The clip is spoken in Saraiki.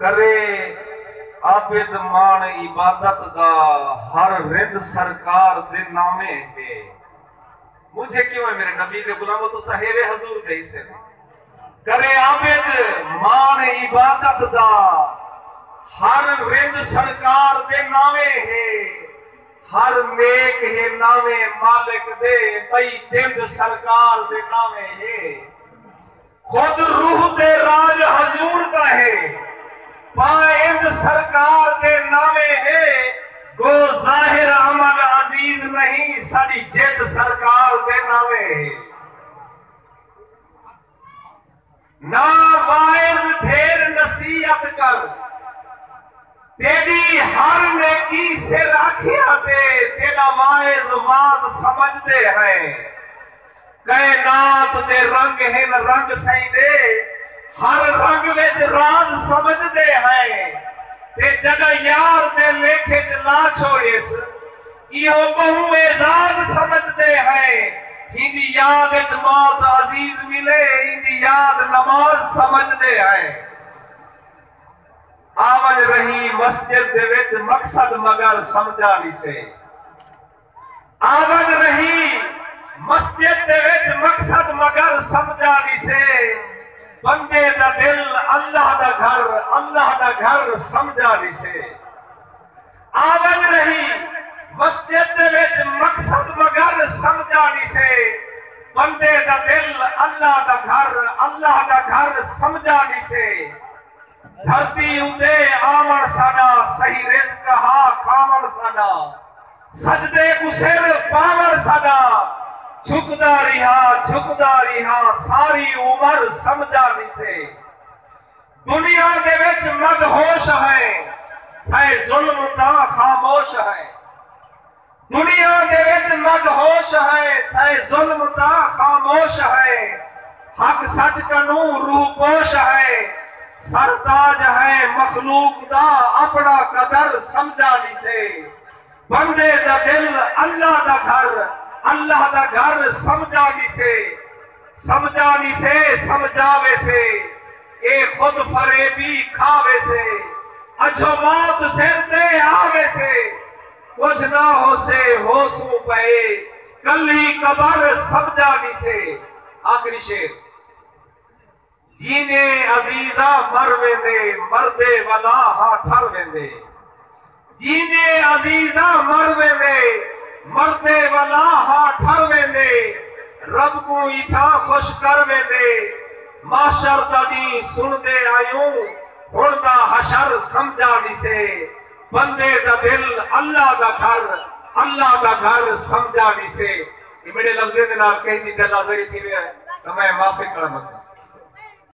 کرے عابد ماݨ عبادت دا ہر رند سرکار دے ناویں ہے مجھے کیوں ہے میرے نبی دے غلامو تسا ہیرے حضور دے حصے دے کرے عابد ماݨ عبادت دا ہر رند سرکار دے ناویں ہے ہر نیک ہے ناویں مالک دے بئی دند سرکار دے ناویں ہے خود روح تے راج حضور دا ہے۔ پائند سرکار دے ناویں ہے۔ گو ظاہر عمل عزیز نہیں۔ ساڈی جد سرکار دے ناویں ہے۔ نا واعظ پھیر نصیحت کر۔ تیڈی ہر نیکی سر آکھیاں تے تیڈا واعظ واز سمجھدے ہیں۔ کائنات دے رنگ ہن رنگ سئیں دے ہر رنگ وچ راز سمجھ دے ہیں تے جڈاں یار دے لیکھ اچ لا چھوڑیس ایہو بہوں اعزاز سمجھ دے ہیں ہیندی یاد اچ موت عزیز ملے ایندی یاد نماز سمجھ دے ہیں آونج رہی مسجد دے وچ مقصد مگر سمجھا نی سے۔ آود رہی مسجد دے وچ مقصد مگر سمجھا ویسے بندے دا دل اللہ دا گھر اللہ دا گھر سمجھا ویسے آود رہی مسجد دے وچ مقصد مگر سمجھا ویسے بندے دا دل اللہ دا گھر اللہ دا گھر سمجھا ویسے دھرتی اتے آوݨ ساݙا صحیح رزق ہا کھاوݨ ساݙا سجدے کوں سر پاوݨ ساݙا جھکدا ریہا جھکدا ریہا ساری عمر سمجھا نسے دنیا دے وچ مدہوش ہیں تھئے ظلم تاں خاموش ہیں۔ دنیا دے وچ مد ہوش ہئے تھئے ظلم تاں خاموش ہئے حق سچ کنوں روح پوش ہئے سر تاج ہئے مخلوق دا اپنا قدر سمجھا نسے بندے دا دل اللہ دا گھر اللہ دا گھر سمجھا نسے سمجھا نسے سمجھا ویسے اے خود فریبی کھا ویسے اجھو موت سر تے آ ویسے۔ کجھ نہ ہوسے ہوسوں پئے کلھی قبر سمجھا ویسے آخری شعر جیندے عزیزاں مر ویندے مردے ولا ہا ٹھر ویندے جیندے عزیزاں مر ویندے مردے ولا ہا ٹھر ویندے رب کوں ایتھاں خوش کر ویندے محشر دا ڈینہہ سنڑدے آیوں ہنڑ دا حشر سمجھا ویسے بندے دا دل اللہ دا گھر اللہ دا گھر سمجھا ویسے یہ میڈے لفظیں دے نال کہیں دی دل آزری تھی وے ہے تو میں معافی کڑا مدد